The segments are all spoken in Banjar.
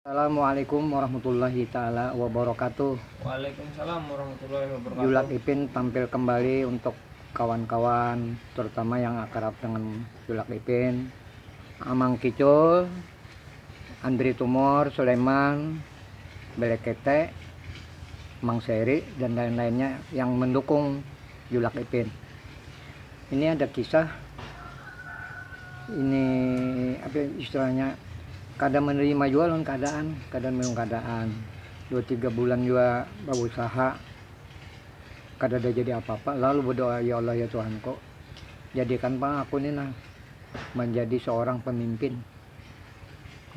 Assalamualaikum warahmatullahi taala wabarakatuh. Waalaikumsalam warahmatullahi wabarakatuh. Julak Ipin tampil kembali untuk kawan-kawan terutama yang akrab dengan Julak Ipin, Amang Kicul, Andri Tumor, Sulaiman, Belekete, Mang Seri dan lain-lainnya yang mendukung Julak Ipin. Ini ada kisah ini apa ya, istilahnya kada menerima jua lawan keadaan, kada menerima keadaan. Dua tiga bulan jua berusaha kada ada jadi apa-apa lalu berdoa ya Allah ya Tuhanku jadikan pang aku ini nah menjadi seorang pemimpin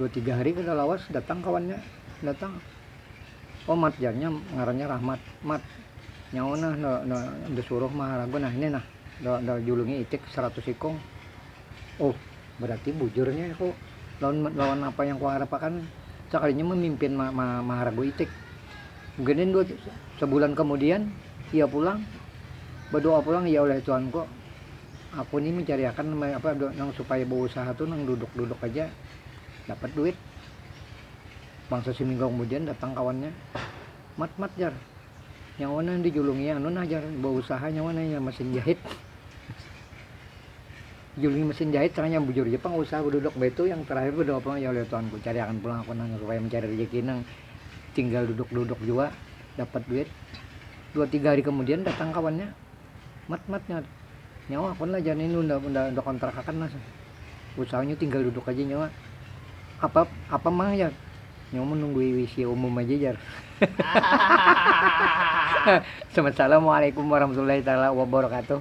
dua tiga hari kada lawas datang kawannya datang Oh mat jar nya ngarannya rahmat mat nyawa nah nda nda nda suruh maharaga nah ini nah nda nda julungi itik saratus ikung oh berarti bujur nya ku lawan lawan napa yang kuharap akan sakalinya mamimpin ma ma maharaga itik gnen dua sebulan kemudian ia pulang badoa pulang ya oleh tuhan ku aku ni mencari akan apa nang supaya beusaha tu nang duduk duduk aja dapat duit Bangsa siminggu kemudian datang kawannya, Mat, Mat jar, nyawa nang dijulungi anu nah jar, bausaha nyawa nang inya mesin jahit. Dijulungi mesin jahit seranya bujur ja pang usaha beduduk baitu yang terakhir bedua pulang, ya Allah Tuhanku cariakan pulang aku nang supaya mencari rejeki nang tinggal duduk-duduk jua dapat duit. Dua tiga hari kemudian datang kawannya, mat mat nyawa tu nyawa aku lah jar nintu unda unda unda kontrak akan lah usahanya tinggal duduk aja nyawa apa apa mang jar nyawa menunggui wc umum aja jar Assalamualaikum warahmatullahi taala wabarakatuh